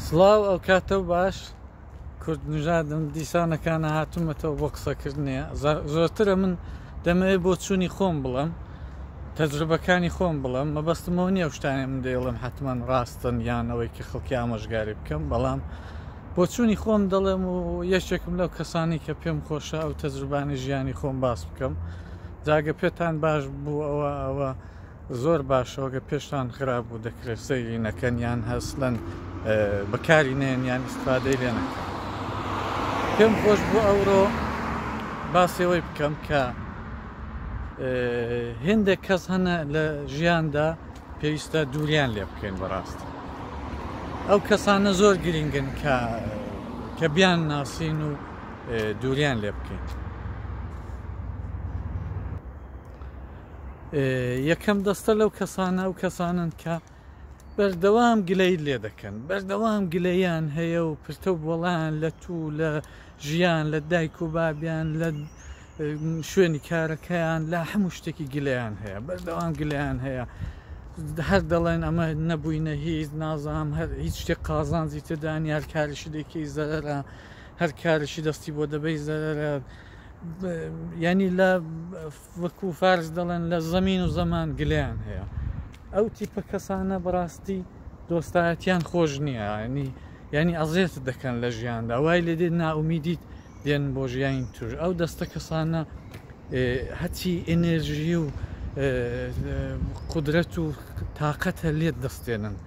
سڵاو ئەوکاتەو باش کورد نژادم دیسانەکانە هاتوومەتەوە بۆ قسەکردنێ زۆرترە من دەمەوێت بۆ چووی خۆم بڵم تەجروبەکانی خۆم بڵم مەبەستمەوە نیە شتانێ من دەیڵم حتمما ڕاستن یانەوەی کە خەڵکی ئامۆژگاری بکەم بەڵام بۆ چووی خۆم دەڵێم و یەکێکم لەو کەسانی کە پێم خۆشە ئەو تەجروبانی ژیانی خۆم باس بکەم جاگە پێتان باش بوو ئەوە ئەوە زۆر باشە وەگە پێشتان خرابوو دەکرێت سەیری نەکەن یان هەسلەن بەکاری نێن یان ئیسفادەی لێ نەکەن پێم خۆش بۆ ئەوڕۆ باسێەوەی بکەم کە هێندێک کەس هەنە لە ژیاندا پێویستە دووریان لێ بکەین بەڕاست ئەو کەسانە زۆر گرنگن کە کە بیان ناسین و دووریان لێ بکەین یەکەم دەستە لەو کەسانە و کەسانن کە بەردەوام گلەی لێ دەکەن بەردەوام گلەیان هەیە و پرتە بۆڵیان لە تو لە ژیان لە دایک و بابیان لە شوێنی کارەکەیان لە هەموو شتێکی گلەیان هەیە بەردەوام گلەیان هەیە هەر دەڵێن ئەمە نەبووینە هیچ نازام هەر هیچ شتێک قازانجی تێدانی هەر کارشی دێکی زەرە هەر کارشی دەستی بۆ دەبەی زەرە یانی لە وەکو فارس دەڵێن لە زەمین و زەمان گلیان هەیە ئەو تیپە کەسانە بەڕاستی دۆستایەتیان خۆش نییە ینی ینی ئەزێت دەکەن لە ژیاندا وای لێ دێت ناومیدیت دێن بۆ ژیانی توش ئەو دەستە کەسانە هەچی ئەنێژی و قدرەت و تااقەتە لێت دەستێنن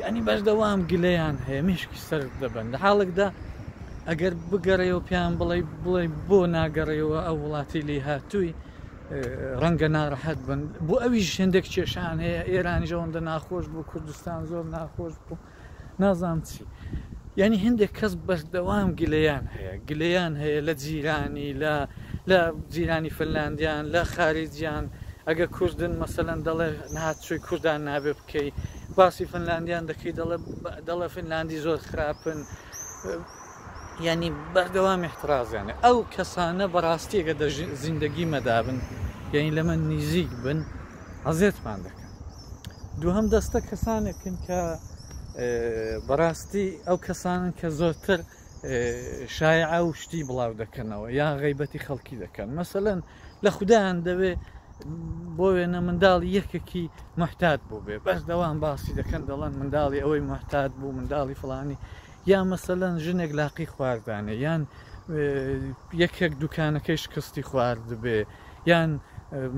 یانی بەردەوام گلەیان هەیە مێشکی سەرد دەبەن لە حاڵێکدا ئەگەر بگەڕێەوە پێیان بڵێ بڵێ بۆ ناگەڕێەوە ئەو وڵاتی لی هاتووی ڕەنگە ناڕەحەت بن بۆ ئەوی ژێندێک کێشان هەیە ئێرانیش ئەوەندە ناخۆش بوو کوردستان زۆر ناخۆش بوو نازام چی یعنی هەندێک کەس بەردەوام گلەیان هەیە گلەیان هەیە لە جیرانی لە لە جیرانی فنلاندیان لە خارجیان ئەگە کوردن مەسەەن دەڵێ نهاتچووی کوردان نابێت کەی باسی فنلاندیان دەکەی دەڵێ فنلاندی زۆر خراپن ینی بەردەوام احترازیانە ئەو کەسانە بەڕاستیەکە دە زیندگی مەدابن یعنی لە من نزیک بن عزێتمان دەکەن دووهم دەستە کەسانێکن کە بەڕاستی ئەو کەسانن کە زۆرتر شایعە و شتی بڵاو دەکەنەوە یان غیبەتی خەڵکی دەکەن مەسەەن لە خوددایان دەوێ بۆ وێنە منداڵی یەکێکی محتات بوو بێ بەس دەوام باسی دەکەن دەڵەن منداڵی ئەوەی محتات بوو منداڵی فلانی یا مەسەەن ژنێک لاقی خواردانێ یان یەکێک دوکانەکەی شکستی خوارد بێ یان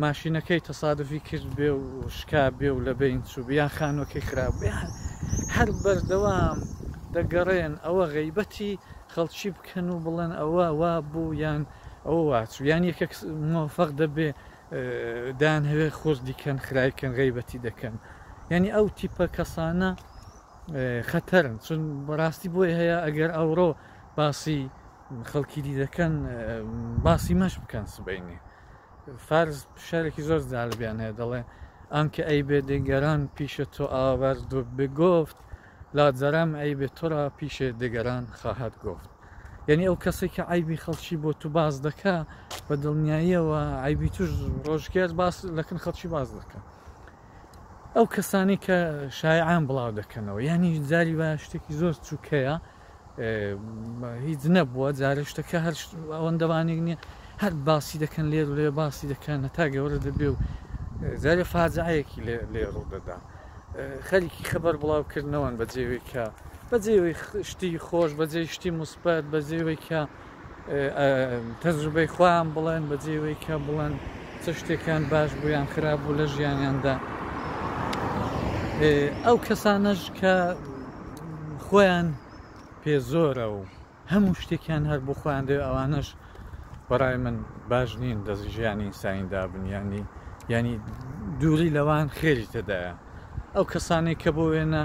ماشینەکەی تەسادفی کرد بێ و شکا بێ و لە بین چوو یان خانوەکەی خراپ بیان هەر بەردەوام دەگەڕێن ئەوە غیبەتی خەڵکی بکەن و بڵێن ئەوە وا بوو یان ئەوە واچوو یان یەکە مۆفەق دەبێ دان هەوێ خۆردیکەن خراکەن غیبەتی دەکەن یعنی ئەو تیپە کەسانە خەتەرن چون بەڕاستی بۆی هەیە ئەگەر ئەوڕۆ باسی خەڵکی دی دەکەن باسی مەش بکەن سبینێ فارس شارێکی زۆر زالبیان هەیە دەڵێ ئەمکە ئەی بێ دەگەران پیشە تۆ ئاوەر دوور بگفت لا جەرەم ئەی بێ تۆرا پیشێ دەگەران خاهات گفت یعنی ئەو کەسێک کە ئایبی خەڵکی بۆ تو باز دەکە بە دڵنیاییەوە ئایبی توش ڕۆژگار باس لەکن خەڵکی باز دەکە ئەو کەسانی کە شایعان بڵاو دەکەنەوە یعنی جاری بە شتێکی زۆر چووکەیە هیچ نەبووە جارە شتەکە هەر ئەوەندەوانێک نییە هەر باسی دەکەن لێر و لێ باسی دەکەن هەتا گەورە دەبێ و جارێ فاجعەیەکی لێ ڕوو دەدا خەریکی خەبەر بڵاوکردنەوەن بە جێوێکە بە جێوەی شتی خۆش بە جێ شتی مسپەت بە جێوێکە تەجروبەی خۆیان بڵێن بەجێ ئەوەی کە بڵێن چ شتێکیان باش بوو یان خراپ بوو لە ژیانیاندا ئەو کەسانەش کە خۆیان پێ زۆرە و هەموو شتێکیان هەر بۆ خۆیان دێ ئەوانەش بەڕای من باش نین دەزی ژیانی ئینسانیدا بنیانی ینی دووری لەوان خێری تێدایە ئەو کەسانێک کە بۆ وێنە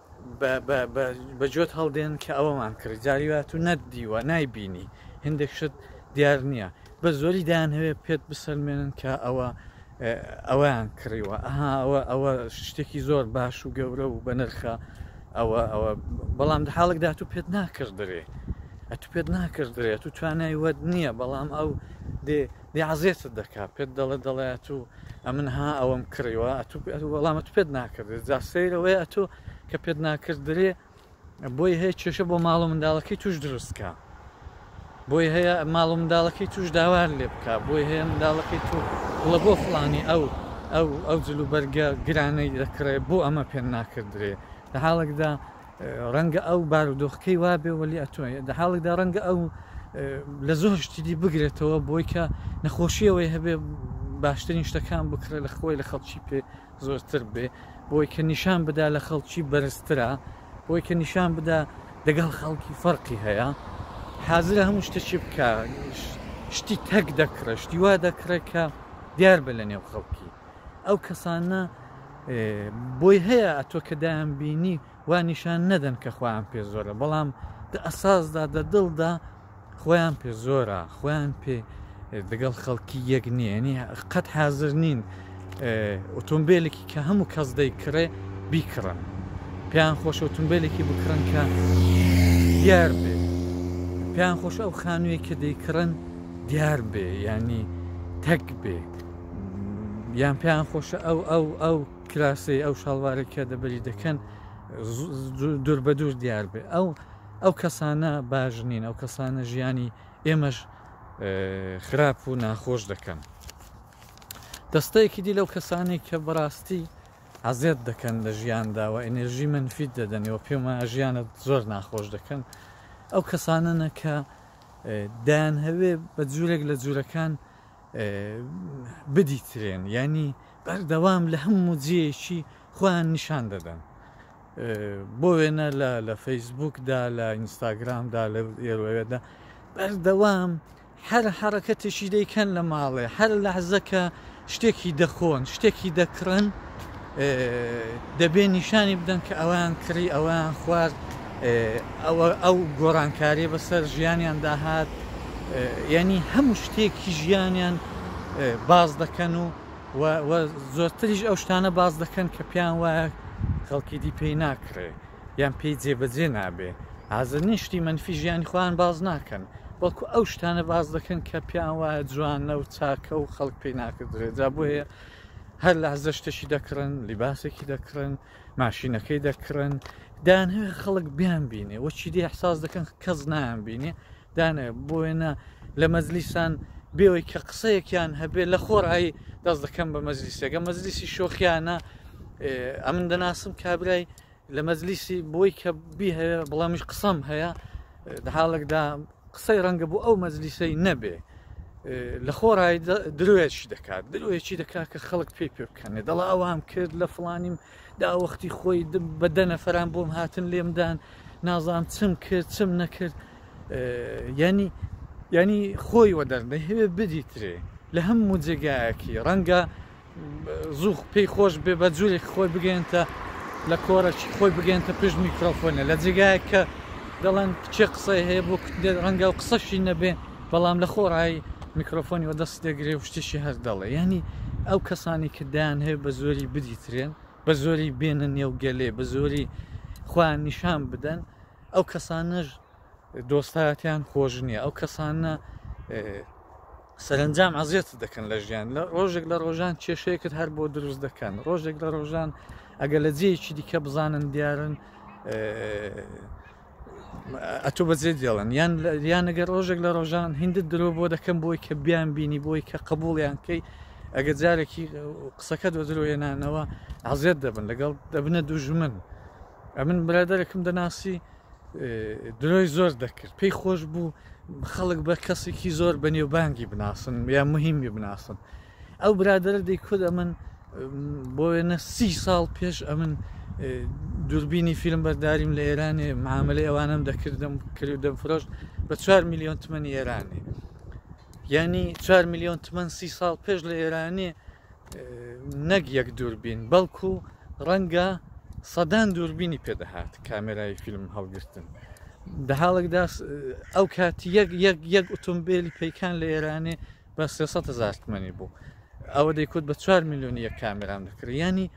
بە جۆت هەڵدێن کە ئەوەمان کرد جاری وات و نەت دیوە نایبینی هندێک شت دیار نییە بە زۆری دایان هەوێ پێت بسەلمێنن کە ئەوە ئەویان کڕیوە ئەها ئەوە ئەوە شتێکی زۆر باش و گەورە و بەنرخە ئەوە ئەوە بەڵام لە حاڵکدا تو پێت ناکردرێ ئەتو پێت ناکردرێت و توانای وەت نییە بەڵام ئەو دێ دەی عەزێتت دەکا پێت دەڵێ دەڵێ ئەتو ئەمن ها ئەوەم کڕیوە ئەتو وەڵامەت پێت ناکردێت جا سەیرەوەی ئەتو کە پێت ناکردرێ بۆی هەیە کێشە بۆ ماڵ و منداڵەکەی توش دروستکە بۆی هەیە ماڵ و منداڵەکەی توش داوار لێ بکە بۆی هەیە منداڵەکەی تو بڵە بۆ فلانی ئەو ئەو ئەو جلوبەرگە گرانەی دەکڕێ بۆ ئەمە پێ ناکردرێ لە حاڵێکدا ڕەنگە ئەو بارودۆخەکەی وابێ وەلی ئەتۆ لە حاڵێکدا ڕەنگە ئەو لە زۆر شتیدی بگرێتەوە بۆی کە نەخۆشیەوەی هەبێ باشترین شتەکان بکرێ لە خۆی لە خەڵکی پێ زۆرتر بێ بۆی کە نیشان بدا لە خەڵکی بەرزترە بۆی کە نیشان بدا دەگەڵ خەڵکی فەرقی هەیە حازرە هەموو شتەکی بکە شتی تەک دەکڕێ شتی وا دەکڕێت کە دیار بە لە نێو خەڵکی ئەو کەسانە بۆی هەیە ئەتۆ کە دایان بینی وا نیشان نەدەن کە خۆیان پێ زۆرە بەڵام دە ئەساسدا دە دڵدا خۆیان پێ زۆرە خۆیان پێ دەگەڵ خەڵکی یەک نییەنی قەت حاضر نین ئۆتۆمبیلێکی کە هەموو کەس دەی کڕێ بیکڕن پێیان خۆش ئۆتۆمبیلێکی بکڕن کە دیار بێ پێیان خۆش ئەو خانوویە کە دەیکڕن دیار بێ ینی تەک بێ یان پێیان خۆشە ئەو ئەو ئەو کراسەی ئەو شاڵوارە کە دەبەری دەکەن دوور بە دوور دیار بێ ئەو ئەو کەسانە باش نین ئەو کەسانە ژیانی ئێمەش خراپ و ناخۆش دەکەن دەستەیەکی دی لەو کەسانی کە بەڕاستی عزیێت دەکەن لە ژیانداوە ئەنێژی منفیت دەدەنەوە پێما ژیانە زۆر ناخۆش دەکەن ئەو کەسانەنە کە دایان هەوێ بە جوورێک لە جوورەکان بدیترێن یانی بەردەوام لە هەموو جێیەکی خۆیان نیشان دەدەن بۆ وێنە لە لە فەیسبوکدا لە ئینستاگرامدا لە ئێوەدا بەردەوام هەر حرەکەتێکی دەیکەن لە ماڵێ هەر لەحزەکە شتێکی دەخۆن شتێکی دەکڕن دەبێت نیشانی بدەن کە ئەویان کڕی ئەویان خوارد ئەوە ئەو گۆڕانکاریە بەسەر ژیانیان داهات یعنی هەموو شتێکی ژیانیان باز دەکەن و زۆرتریش ئەو شتانە باز دەکەن کە پێیان وایە خەڵکی دی پێی ناکرێ یان پێی جێبەجێ نابێ ئازر نیشتی منفی ژیانی خۆیان باز ناکەن وەکو ئەو شتانە باز دەکەن کە پیان وایە جوانە و چاکە و خەڵک پێی ناکردرێت جا بۆیە هەر لەحزە شتێکی دەکڕن لیباسێکی دەکڕن ماشینەکەی دەکڕن دانهێ خەڵک بیان بینێ وەچی دی احساس دەکەن کەس نایان بینێ دانێ بۆێنە لە مەزلیسان بێەوەی کە قسەیەکیان هەبێ لە خۆرایی دەست دەکەم بە مەزلیسەکە مەزلیسی شۆخیانە ئەمن دەناسم کابرای لە مەجلیسی بۆی کە بی هەیە بڵامیش قسەم هەیە لە حاڵێکدا قسەی ڕەنگە بۆ ئەو مەجلیسەی نەبێ لە خۆڕای درۆیەکی دەکات درۆیەکی دەکات کە خەڵک پێی پێ بکەنێ دەڵا ئەوام کرد لە فلانیم داوەختی خۆی بە دەنەفران بۆم هاتن لێمدان نازام چم کرد چم نەکرد ینی ینی خۆی وە دەرنەهوێ بدیترێ لە هەموو جێگایەکی ڕەنگە زوو پێی خۆش بێ بە جورێک خۆی بگەێنتە لە کۆرەکی خۆی بگەێنتە پشت میکرۆفۆنە لە جێگایە کە دەڵێن کچێ قسەی هەیە بۆ کوتێت ڕەنگە و قسەشی نەبێ بەڵام لە خۆڕایی میکرۆفۆنی وە دەست دەگرێ و شتێکی هەر دەڵێ ینی ئەو کەسانی کە دایان هەیە بە زۆری بدیترێن بە زۆری بێنە نێو گەلێ بە زۆری خۆیان نیشان بدەن ئەو کەسانەش دۆستایەتیان خۆش نییە ئەو کەسانە سەرنجام عزیێت دەکەن لە ژیان لە ڕۆژێک لە ڕۆژان کێشەیەکت هەر بۆ دروست دەکەن ڕۆژێک لە ڕۆژان ئەگەر لە جێیەکی دیکە بزانن دیارن ئەتۆ بەجێ دێڵن یان یانەگەر ڕۆژێک لە ڕۆژان هندت درۆ بۆ دەکەم بۆی کە بیان بینی بۆی کە قبولیان کەی ئەگە جارێکی قسەکە دۆ درۆێنانەوە عزیێت دەبن لەگەڵ دەبنە دوژمن ئەمن برادەرەکم دەناسی درۆی زۆر دەکرد پێی خۆش بوو خەڵک بە کەسێکی زۆر بە نێوبانگی بناسن یا مهمی بناسن ئەو برادرە دەیکرد ئەمن بۆ وێنە سی ساڵ پێش ئەمن دووربینی فیلم بەرداریم لە ئێرانێ معاملەی ئەوانم دەکردم کردو دەم فرۆشت بە 4 میلیۆن تمەنی ئێرانێ یعنی 4 میلیۆن تمەن سی ساڵ پێش لە ئێرانێ نەک یەک دووربین بەڵکو ڕەنگە سەدان دووربینی پێدەهات کامێرای فیلم هەڵگرتن دە حاڵێکدا ئەو کات یەک یەک یەک ئۆتۆمبیلی پیکان لە ئێرانێ بە 300 هزار تمەنی بوو ئەوە دەیکوت بە 4 میلیۆن یەک کامێران دەکرێت ینی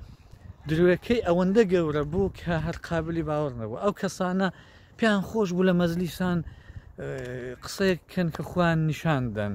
درێەکەی ئەوەندە گەورە بوو کە هەر قابلی باوەڕ نەبوو ئەو کەسانە پێیان خۆش بوو لە مەزلیسان قسەیەک کەن کە خوان نیشاندەن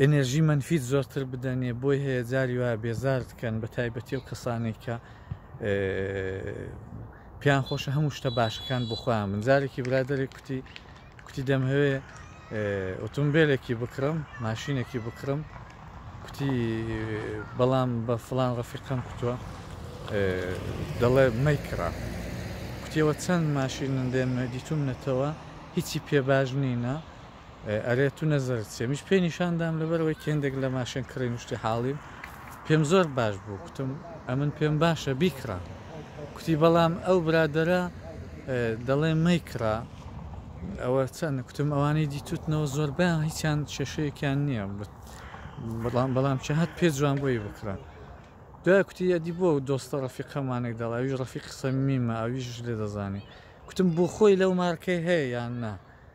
ئێنێرژی مەنفیت زۆرتر بدەنێ بۆی هەیە جاری وایە بێزارت کەن بە تایبەتی و کەسانی کە پێیان خۆشە هەموو شتە باشەکان بخۆیان من جارێکی برادێک کوتی کوتی دەمهەوێ ئۆتۆمبیلێکی بکڕم ماشینێکی بکڕم کوتی بەڵام بە فلان ڕەفیقم کوتووە دەڵێ مەیکڕە کوتیەوە چەند ماشین دێنە دیتوم نەتەوە هیچی پێ باش نینە ئەرێ تو نەزەرت چیە منیش پێی نیشان دام لەبەرەوەی کە هێندێک لە ماشێن کڕین و شتی حاڵیم پێم زۆر باش بوو کوتم ئەمن پێم باشە بیکڕە کوتی بەڵام ئەو برادەرە دەڵێ مەیکڕە ئەوە چەند کوتم ئەوانەی دیتوتنەوە زۆربیان هیچیان کێشەیەکیان نییە بەڵام بەڵام چه هەت پێ جوان بۆی بکڕە دوای کوتی یادی بۆ دۆستە ڕەفیقەمانێک دەڵ ئەویش ڕەفیق سەمیمە ئەویش لێ دەزانێ کوتم بۆ خۆی لەو مارکەی هەیە یان نا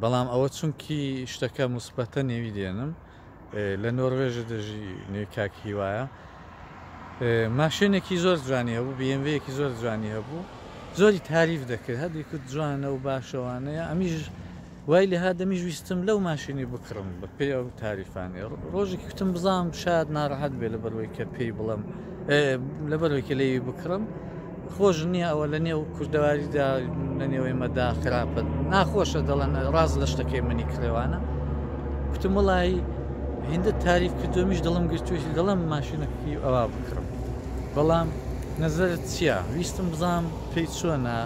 بەڵام ئەوە چونکی شتەکە مسبەتە نێوی دێنم لە نۆروێژە دەژی نێ کاک هیوایە ماشێنێکی زۆر جوانی هەبوو بێنوەیەکی زۆر جوانی هەبوو زۆری تاریف دەکرد هەردی کرد جوانە و باشەوانەیە ئەمیش وای لە هادەمیش ویستم لەو ماشینی بکڕم بە پێ ئەو تاریفانێ ڕۆژێکی کوتم بزانام شاد ناڕەحەت بێ لە بەروەی کە پێی بڵم لەبەرەوەی کە لێوی بکڕم خۆش نییە ئەوە لە نێو کوردەواریدا لە نێوەی مەدا خراپە ناخۆشە دەڵێن ڕاز لە شتەکەی منی کرێوانە کوتم وڵایی هندە تاریف کردومیش دڵم گرتوێتی دەڵم ماشینەکەی ئەوا بکڕم بەڵام نەزرت چییە ویستم بزانام پێی چۆنە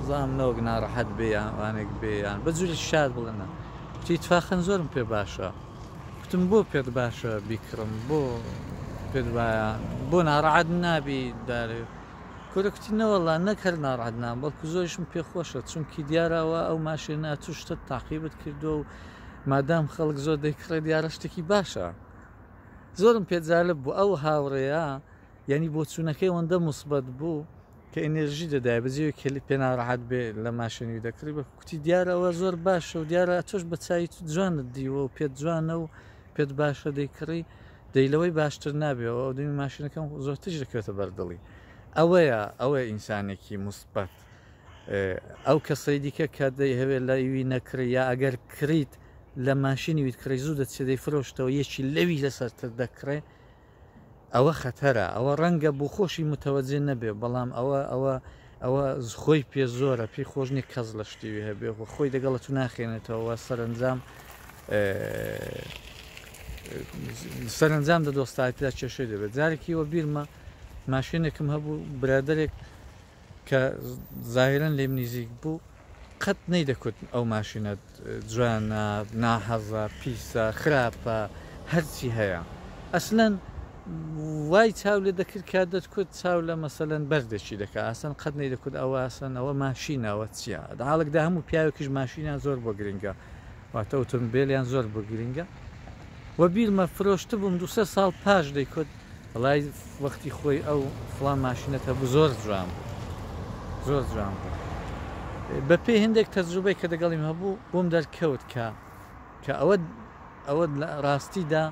بزانام نەوەک ناڕەحەت بێیان وانێک بێیان بە جووری شاد بڵێنە کوتی تفاخەن زۆرم پێ باشە گوتم بۆ پێت باشە بیکڕم بۆ پێت وایە بۆ ناڕەعەت نابی دارێ کورە کوتی نەوەڵا نەک هەر ناڕەعەت نام بەڵکو زۆریشم پێ خۆشە چونکی دیاراوە ئەو ماشێ ناتو شتت تاقیبت کردو و مادام خەڵک زۆر دەیکڕێ دیارە شتێکی باشە زۆرم پێ جالب بوو ئەو هاوڕێە یعنی بۆچوونەکەی ئەوەندە موسبەت بوو کە ئینێرژی دەدایە بە جێوێک کە پێ ناڕەحەت بێ لە ماشێنی دەکڕی بە کوتی دیارە ئەوە زۆر باشە و دیارە تۆش بە چاوی تو جوانت دیوە و پێت جوانە و پێت باشە دەیکڕی دەی لەوەی باشتر نابێەوە ئەو دەمی ماشینەکەم زۆر تژ دەکەوێتە بەردڵی ئەوەیە ئەوەیە ئینسانێکی مثبت ئەو کەسەی دیکە کە دەی هەوێت لە ئیوی نەکڕی یا ئەگەر کڕیت لە ماشینی ویت کڕی زوو دەچێت دەی فرۆشتەوە یەکی لەوی لەسەرتر دەکڕێ ئەوە خەتەرە ئەوە ڕەنگە بۆخۆشی متەوەجێ نەبێ بەڵام ئەوە ئەوە ئەوە خۆی پێ زۆرە پێی خۆش نیە کەس لە شتیوی هەبێ خۆ خۆی دەگەڵە تو ناخێنێتەوە سەرنجام سەرنجام دە دۆستایتدا کێشەی دەبێت جارێکیوە بیرمە ماشێنێکم هەبوو برادێک کە زاهیرەن لێم نیزیک بوو قەت نەیدەکوتم ئەو ماشینەت جوانە ناحەزە پیسە خراپە هەرچی هەیە ئەسلەن وای چاو لێ دەکرد کە دەتکوت چاو لە مەسەلەن بەردێکی دەکا ئاسەن قەت نەیدەکوت ئەوە ئاسەن ئەوە ماشینە ئەوە چیە داڵکدا هەموو پیاوێکیش ماشینە زۆر بۆ گرنگە واتە ئۆتۆمبێلیان زۆر بۆ گرنگە و بیرمە فرۆشتبووم دو سێ ساڵ پاش دەیکوت وڵای وەختی خۆی ئەو فڵان ماشینەت هەبوو زۆر جوان بوو زۆر جوان بوو بە پێی هەندێک تەجروبەی کە دەگەڵیم هەبوو بۆم دەرکەوت کە کە ئەوە ئەوە لە ڕاستیدا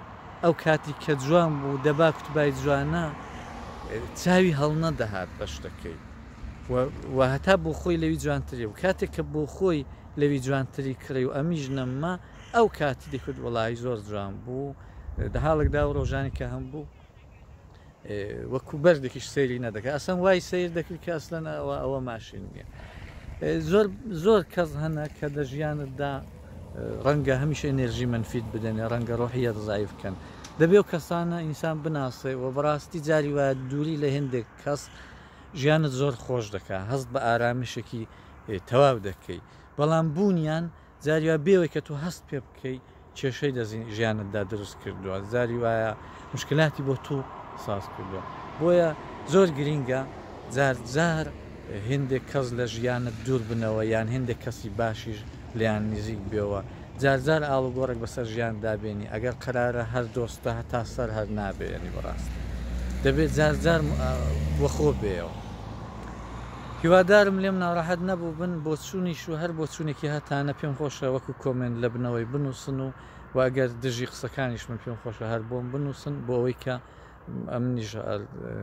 ئەو کاتی کە جوان بوو دەبا کوتبای جوانە چاوی هەڵنە دەهات بە شتەکەی و هەتا بۆ خۆی لەوی جوانتری و کاتێک کە بۆ خۆی لەوی جوانتری کڕی و ئەمیش نەمما ئەو کاتی دەکرد وەڵایی زۆر جوان بوو لە حاڵێکدا و ڕۆژانی کە هەم بوو وەکو بەردێکیش سەیری نەدەکە ئەسەم وای سیر دەکرد کە ئەسلەن ئەوە ئەوە ماشین نییە زۆر زۆر کەس هەنە کە لە ژیانتدا ڕەنگە هەمیش ئەنێرژی منفیت بدەنێ ڕەنگە ڕۆحیەت زایف بکەن دەبێ و کەسانە ئینسان بناسێ و بەڕاستی جاری وایە دووری لە هێندێک کەس ژیانت زۆر خۆش دەکە هەست بە ئارامیشێکی تەواو دەکەی بەڵام بوونیان زاری وا بێەوەی کە تۆ هەست پێ بکەی کێشەی لە ژیانتدا دروست کردووە زاری وایە مشکلاتی بۆ تو ساز کردووە بۆیە زۆر گرینگە زار زار هندێک کەس لە ژیانت دوور بنەوە یان هندێک کەسی باشیش لیان نزیک بێەوە جارجار ئاڵوگۆڕێک بەسەر ژیان دابێنی ئەگەر قرارە هەر دۆستە هەتا سەر هەر نابێنی بەڕاست دەبێت جارجار وەخۆ بێەوە هیوادارم لێم ناڕەحەت نەبووبن بۆچوونیش و هەر بۆچوونێکی هەتانە پێم خۆشە وەکو کۆمێنت لەبنەوەی بنووسن و وە ئەگەر دژی قسەکانیش بن پێم خۆشە هەر بۆم بنووسن بۆ ئەوەی کە ئەمنیش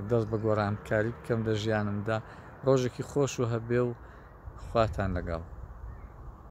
دەست بە گۆڕانکاری بکەم لە ژیانمدا ڕۆژێکی خۆش و هەبێ و خواتان لەگەڵ.